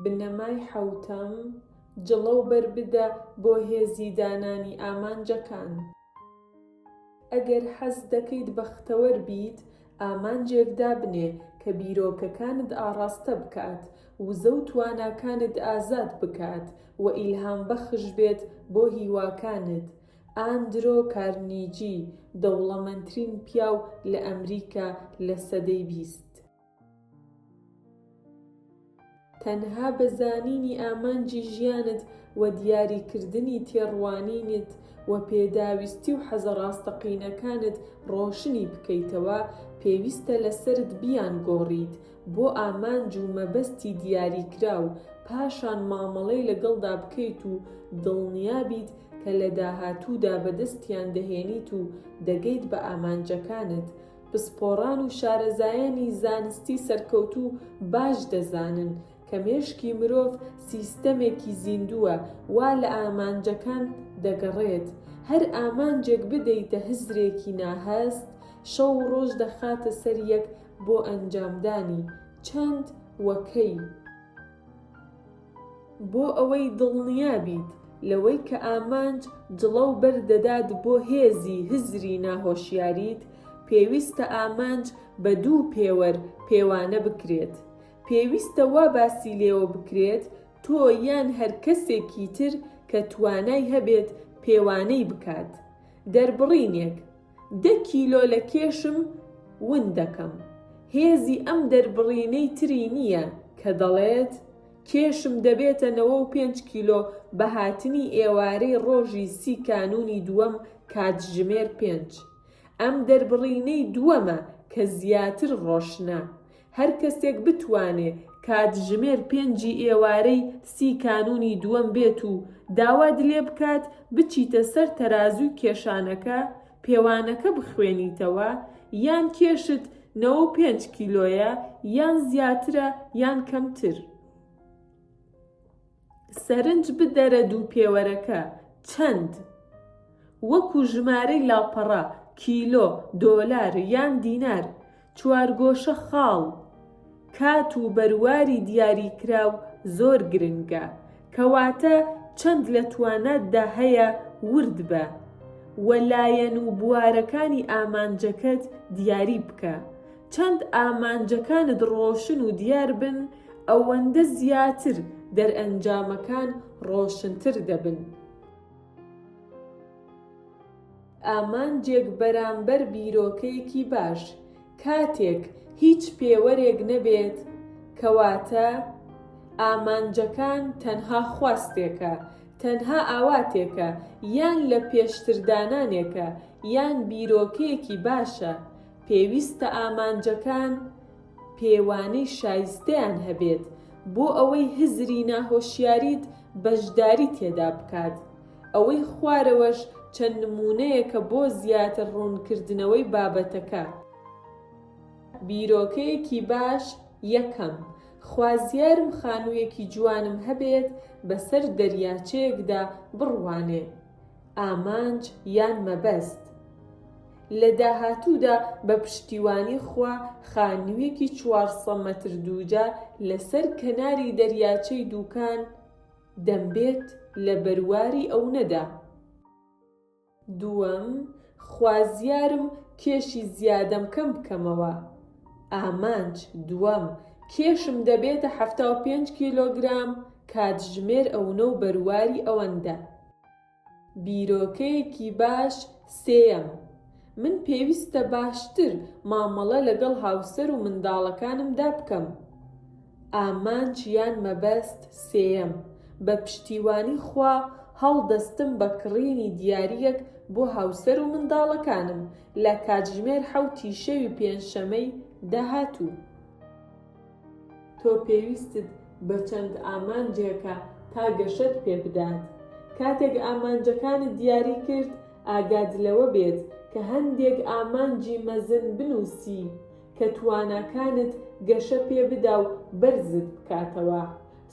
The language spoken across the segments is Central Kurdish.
بنەمای حەوتەم، جڵە و بەر بدە بۆ هێزی دانانی ئامانجەکان. ئەگەر حەز دەکەیت بەختەوەر بیت، ئامانجێک دابنێ کە بیرۆکەکانت ئاڕاستە بکات، وزە و تواناکانت ئازاد بکات و ئیلهامبەخش بێت بۆ هیواکانت. ئاندرۆ کارنیجی، دەوڵەمەندترین پیاو لە ئەمریکا لە سەدەی بیست. تەنها بە زانینی ئامانجی ژیانت و دیاریکردنی تێڕوانینت و پێداویستی و حەزە ڕاستەقینەکانت ڕۆشنی بکەیتەوە، پێویستە لەسەرت بیانگۆڕیت، بۆ ئامانج و مەبەستی دیاریکراو، پاشان مامەڵەی لەگەڵدا بکەیت و دڵنیابیت کە لە داهاتوودا بەدەستیان دەهێنیت و دەگەیت بە ئامانجەکانت. پسپۆڕان و شارەزایانی زانستی سەرکەوتوو باش دەزانن کە مێشکی مرۆڤ سیستەمێکی زیندووە وا لە ئامانجەکان دەگەڕێت، هەر ئامانجێک بدەیتە هزرێکی ناهەست، شەو و ڕۆژ دەخاتە سەر یەک بۆ ئەنجامدانی چەند و کەی؟ بۆ ئەوەی دڵنیا بیت لەوەی کە ئامانج جڵە و بەر دەدات بۆ هێزی هزری ناهۆشیاریت، پێویستە ئامانج بە دوو پێوەر پێوانە بکرێت. پێویستە وا باسی لێوە بکرێت تۆ یان هەر کەسێکی تر کە توانای هەبێت پێوانەی بکات. دەربڕینێک. دە کیلۆ لە کێشم ون دەکەم. هێزی ئەم دەربڕینەی تری نییە کە دەڵێت، کێشم دەبێتە نەوە و پێنج کیلۆ بە هاتنی ئێوارەی ڕۆژی سی کانوونی دووەم کاتژمێر پێنج. ئەم دەربڕینەی دووەمە کە زیاتر ڕۆشنە. هەر کەسێک بتوانێ کاتژمێر پێنجی ئێوارەی سی کانوونی دووەم بێت و داوات لێ بکات بچیتە سەر تەرازووی کێشانەکە پێوانەکە بخوێنیتەوە یان کێشت نەوە و پێنج کیلۆیە یان زیاترە یان کەمتر. سەرنج بدەرە دوو پێوەرەکە چەند؟ وەکو ژمارەی لاپەڕە، کیلۆ، دۆلار یان دینار، چوارگۆشە خاڵ، کات و بەرواری دیاریکراو زۆر گرنگە، کەواتە چەند لە تواناتدا هەیە ورد بە و لایەن و بوارەکانی ئامانجەکەت دیاری بکە، چەند ئامانجەکانت ڕۆشن و دیار بن، ئەوەندە زیاتر دەرئەنجامەکان ڕۆشنتر دەبن. ئامانجێک بەرامبەر بیرۆکەیەکی باش کاتێک هیچ پێوەرێک نەبێت، کەواتە ئامانجەکان تەنها خواستێکە، تەنها ئاواتێکە، یان لە پێشتردانانێکە، یان بیرۆکەیەکی باشە، پێویستە ئامانجەکان پێوانەی شایستەیان هەبێت بۆ ئەوەی هزری ناهۆشیاریت بەشداری تێدا بکات. ئەوەی خوارەوەش چەند نموونەیەکە بۆ زیاتر ڕوونکردنەوەی بابەتەکە. بیرۆکەیەکی باش، یەکەم، خوازیارم خانوویەکی جوانم هەبێت بەسەر دەریاچەیەکدا بڕوانێ. ئامانج یان مەبەست. لە داهاتوودا بە پشتیوانی خوا خانوویەکی چوار سە مەتر دووجا لە سەر کەناری دەریاچەی دووکان دەمبێت لە بەرواری ئەونەدا. دووەم، خوازیارم کێشی زیادەم کەم بکەمەوە. ئامانج، دووەم، کێشم دەبێتە حەفتا و پێنج کیلۆگرام، کاتژمێر ئەونە و بەرواری ئەوەندە. بیرۆکەیەکی باش، سێیەم، من پێویستە باشتر مامەڵە لەگەڵ هاوسەر و منداڵەکانمدا بکەم. ئامانج یان مەبەست سێیەم، بە پشتیوانی خوا هەڵدەستم بە کڕینی دیارییەک بۆ هاوسەر و منداڵەکانم لە کاتژمێر حەوتی شەوی پێنجشەمەی داهاتوو. تۆ پێویستت بە چەند ئامانجێکە تا گەشەت پێ بدات. کاتێک ئامانجەکانت دیاری کرد، ئاگات لەوە بێت کە هەندێک ئامانجی مەزن بنووسی، کە تواناکانت گەشە پێبدا و بەرزت بکاتەوە.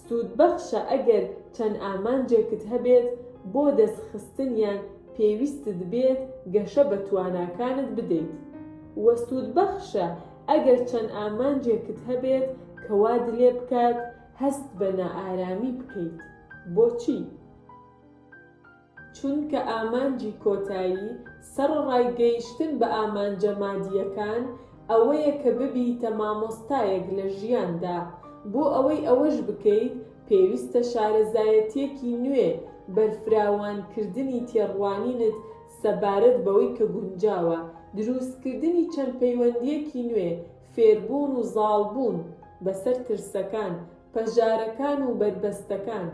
سوودبەخشە ئەگەر چەند ئامانجێکت هەبێت بۆ دەستخستنیان پێویستت بێت گەشە بە تواناکانت بدەیت. وە سوودبەخشە ئەگەر چەند ئامانجێکت هەبێت کە وات لێ بکات هەست بە نائارامی بکەیت. بۆچی؟ چونکە ئامانجی کۆتایی، سەڕەڕای گەیشتن بە ئامانجە مادییەکان، ئەوەیە کە ببیتە مامۆستایەک لە ژیاندا. بۆ ئەوەی ئەوەش بکەیت، پێویستە شارەزایەتییەکی نوێ، بەرفراوانکردنی تێڕوانینت سەبارەت بەوەی کە گونجاوە، دروستکردنی چەند پەیوەندییەکی نوێ، فێربوون و زاڵبوون بەسەر ترسەکان، پەژارەکان و بەربەستەکان.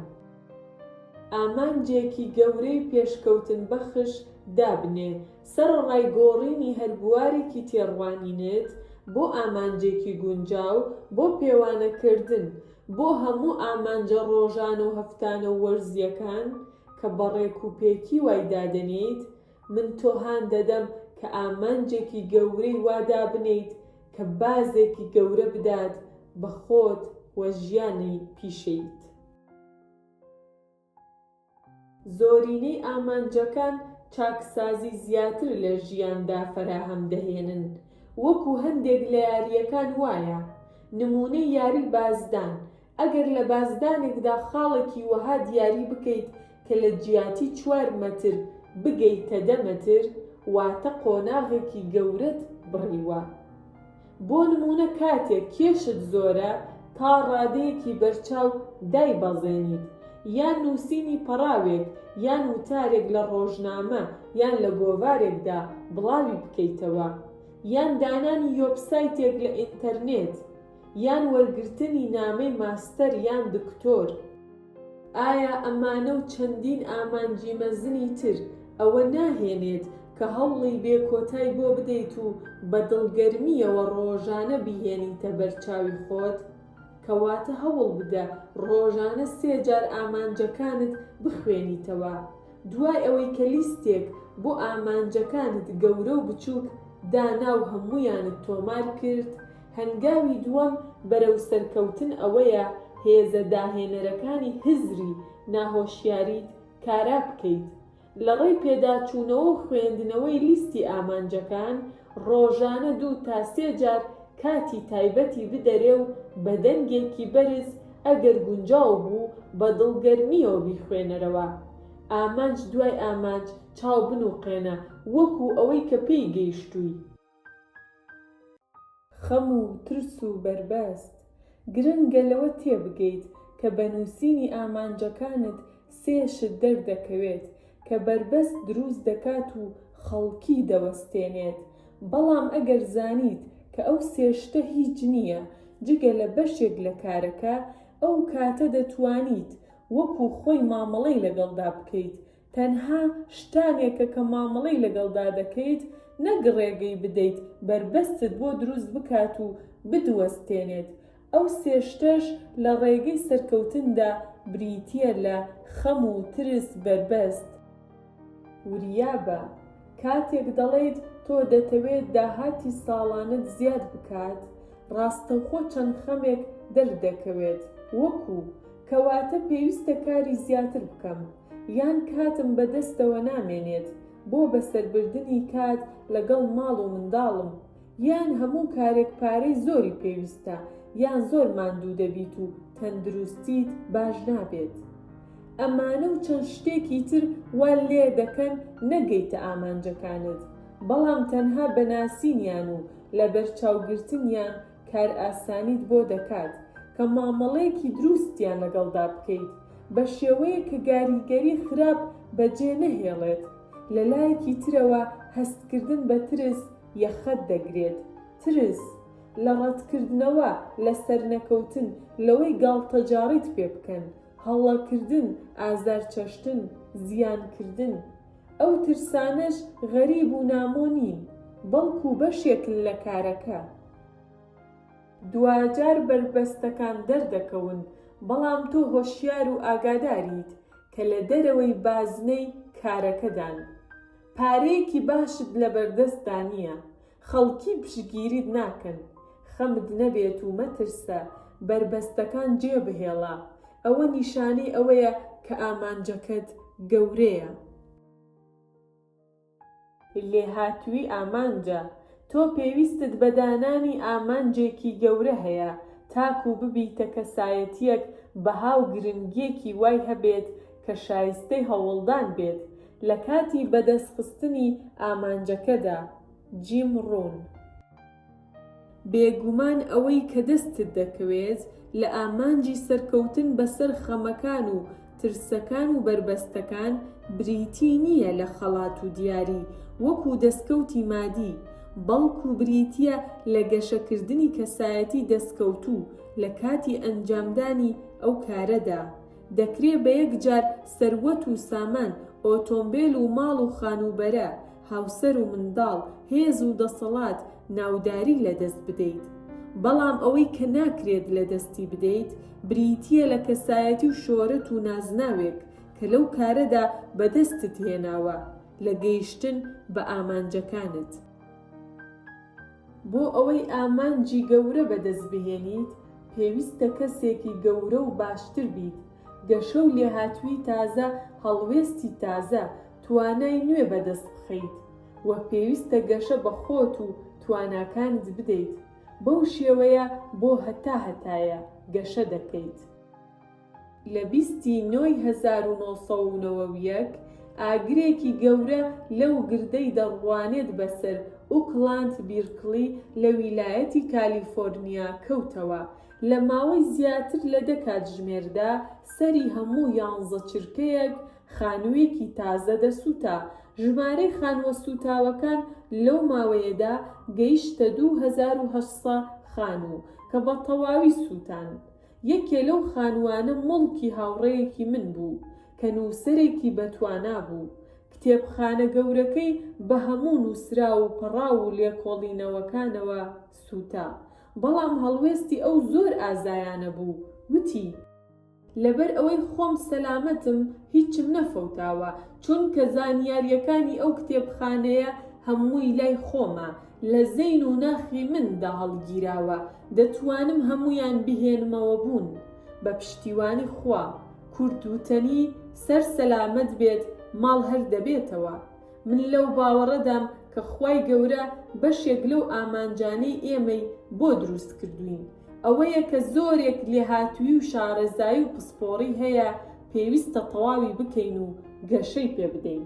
ئامانجێکی گەورەی پێشکەوتن بەخش دابنێ سەرەڕای گۆڕینی هەر بوارێکی تێڕوانینت بۆ ئامانجێکی گونجاو بۆ پێوانە کردن بۆ هەموو ئامانجە ڕۆژانە و هەفتانە و وەرزیەکان کە بە ڕێک و پێکی وای دادەنێیت من تۆ هان دەدەم کە ئامانجێکی گەورەی وا دابنێیت کە بازێکی گەورە بدات بە خۆت و ژیانی پیشەییت. زۆرینەی ئامانجەکان چاکسازی زیاتر لە ژیاندا فەراهەم دەهێنن، وەکو هەندێک لە یارییەکان وایە، نموونەی یاری بازدان، ئەگەر لە بازدانێکدا خاڵێکی وەها دیاری بکەیت کە لە جیاتی چوار مەتر بگەیتە دە مەتر، واتە قۆناغێکی گەورەت بڕیوە. بۆ نموونە کاتێک کێشت زۆرە تا ڕادەیەکی بەرچاو دایبەزێنیت، یان نووسینی پەڕاوێک یان وتارێک لە ڕۆژنامە یان لە گۆڤارێکدا بڵاوی بکەیتەوە، یان دانانی یۆبسایتێک لە ئینتەرنێت، یان وەرگرتنی نامەی ماستەر یان دکتۆر. ئایا ئەمانە و چەندین ئامانجی مەزنی تر ئەوە ناهێنێت کە هەوڵی بێ کۆتای بۆ بدەیت و بە دڵگەرمییەوە ڕۆژانە بیهێنیتە بەر چاوی خۆت؟ کەواتە هەوڵ بدە ڕۆژانە سێ جار ئامانجەکانت بخوێنیتەوە، دوای ئەوەی کە لیستێک بۆ ئامانجەکانت گەورە و بچووک دانا و هەموویانت تۆمار کرد، هەنگاوی دووەم بەرەو سەرکەوتن ئەوەیە هێزە داهێنەرەکانی هزری ناهۆشیاریت کارا بکەیت. لە ڕێی پێداچوونەوە و خوێندنەوەی لیستی ئامانجەکان، ڕۆژانە دوو تا سێ جار کاتی تایبەتی بدەرێ و بە دەنگێکی بەرز ئەگەر گونجاو بوو بە دڵگەرمییەوە بیخوێنەرەوە. ئامانج دوای ئامانج چاو بنووقێنە وەکوو ئەوەی کە پێی گەیشتووی. خەم و ترس و بەربەست. گرنگە لەوە تێبگەیت کە بە نووسینی ئامانجەکانت سێ شت دەردەکەوێت کە بەربەست دروست دەکات و خەڵکی دەوەستێنێت، بەڵام ئەگەر زانیت کە ئەو سێ شتە هیچ نییە جگە لە بەشێک لە کارەکە، ئەو کاتە دەتوانیت وەکو خۆی مامەڵەی لەگەڵدا بکەیت تەنها شتانێکە کە مامەڵەی لەگەڵدا دەکەیت نەک ڕێگەی بدەیت بەربەستت بۆ دروست بکات و بدوەستێنێت، ئەو سێ شتەش لە ڕێگەی سەرکەوتندا بریتییە لە، خەم و ترس، بەربەست. وریابە، کاتێک دەڵێیت تۆ دەتەوێت داهاتی ساڵانەت زیاد بکات، ڕاستەوخۆ چەند خەمێک دەردەکەوێت، وەکو، کەواتە پێویستە کاری زیاتر بکەم یان کاتم بەدەستەوە نامێنێت بۆ بەسەربردنی کات لەگەڵ ماڵ و منداڵم یان هەموو کارێک پارەی زۆری پێویستە یان زۆر ماندوو دەبیت و تەندروستیت باش نابێت ئەمانە و چەند شتێکی تر وا لێدەکەن نەگەیتە ئامانجەکانت بەڵام تەنها بەناسینیان و لەبەرچاوگرتنیان کارئاسانیت بۆ دەکات کە مامەڵەیەکی دروستیان لەگەڵدا بکەیت بە شێوەیەک کە گاریگەری خراپ بەجێ نەهێڵێت، لە لایەکی ترەوە هەستکردن بە ترس یەخەت دەگرێت، ترس لە ڕەتکردنەوە، لە سەرنەکەوتن، لەوەی گاڵتەجاڕیت پێ بکەن، هەڵەکردن، ئازارچەشتن، زیانکردن، ئەو ترسانەش غەریب و نامۆ نین، بەڵکو بەشێکن لە کارەکە. دواجار بەربەستەکان دەردەکەون، بەڵام تۆ هۆشیار و ئاگاداریت کە لە دەرەوەی بازنەی کارەکەدان. پارەیەکی باشت لەبەردەستدا نییە، خەڵکی پشتگیریت ناکەن خەمت نەبێت و مەترسە، بەربەستەکان جێبهێڵە، ئەوە نیشانەی ئەوەیە کە ئامانجەکەت گەورەیە. لێهاتوویی ئامانجە، تۆ پێویستت بە دانانی ئامانجێکی گەورە هەیە تاکوو ببیتە کەسایەتییەک بەها و گرنگییەکی وای هەبێت کە شایستەی هەوڵدان بێت، لە کاتی بەدەست خستنی ئامانجەکەدا، جیم ڕون. بێگومان ئەوەی کە دەستت دەکەوێت لە ئامانجی سەرکەوتن بەسەر خەمەکان و ترسەکان و بەربەستەکان بریتی نییە لە خەڵات و دیاری وەکو دەستکەوتی مادی، بەڵکو بریتییە لە گەشەکردنی کەسایەتی دەستکەوتوو لە کاتی ئەنجامدانی ئەو کارەدا. دەکرێ بە یەک جار سەروەت و سامان، ئۆتۆمبێل و ماڵ و خانووبەرە، هاوسەر و منداڵ، هێز و دەسەڵات، ناوداری لە دەست بدەیت. بەڵام ئەوەی کە ناکرێت لە دەستی بدەیت، بریتییە لە کەسایەتی و شۆرەت و نازناوێک کە لەو کارەدا بە دەستت هێناوە لە گەیشتن بە ئامانجەکانت. بۆ ئەوەی ئامانجی گەورە بەدەست بهێنیت، پێویستە کەسێکی گەورە و باشتر بیت، گەشە و لێهاتوویی تازە، هەڵوێستی تازە، توانای نوێ بەدەست بخەیت و پێویستە گەشە بە خۆت و تواناکانت بدەیت، بەو شێوەیە بۆ هەتا هەتایە گەشە دەکەیت. لە بیست ی نۆ ی هەزار و نۆ سەد و نەوە و یەک ئاگرێکی گەورە لەو گردەی دەڕوانێت بەسەر ئوکلاند بیرکلی لە ویلایەتی کالیفۆرنیا کەوتەوە، لە ماوەی زیاتر لە دە کاتژمێردا سەری هەموو یانزە چرکەیەک خانووێکی تازە دەسووتا، ژمارەی خانووە سووتاوەکان لەو ماوەیەدا گەیشتە دوو هەزار و هەشت سە خانوو کە بە تەواوی سووتان. یەکێ لەو خانووانە موڵکی هاوڕێیەکی من بوو کە نووسەرێکی بەتوانا بوو. کتێبخانە گەورەکەی بە هەموو نووسراو و پەڕاو و لێکۆڵینەوەکانەوە سووتا. بەڵام هەڵوێستی ئەو زۆر ئازایانە بوو، وتی. لەبەر ئەوەی خۆم سەلامەتم، هیچم نەفەوتاوە، چونکە زانیارییەکانی ئەو کتێبخانەیە هەمووی لای خۆمە، لە زەین و ناخی من دا هەڵگیراوە دەتوانم هەموویان بهێنمەوە بوون بە پشتیوانی خوا کورد وتەنی سەر سەلامەت بێت ماڵ هەر دەبێتەوە من لەو باوەڕەدام کە خوای گەورە بەشێک لەو ئامانجانەی ئێمەی بۆ دروست کردووین ئەوەیە کە زۆرێک لێهاتووی و شارەزایی و پسپۆڕی هەیە پێویستە تەواوی بکەین و گەشەی پێ بدەین.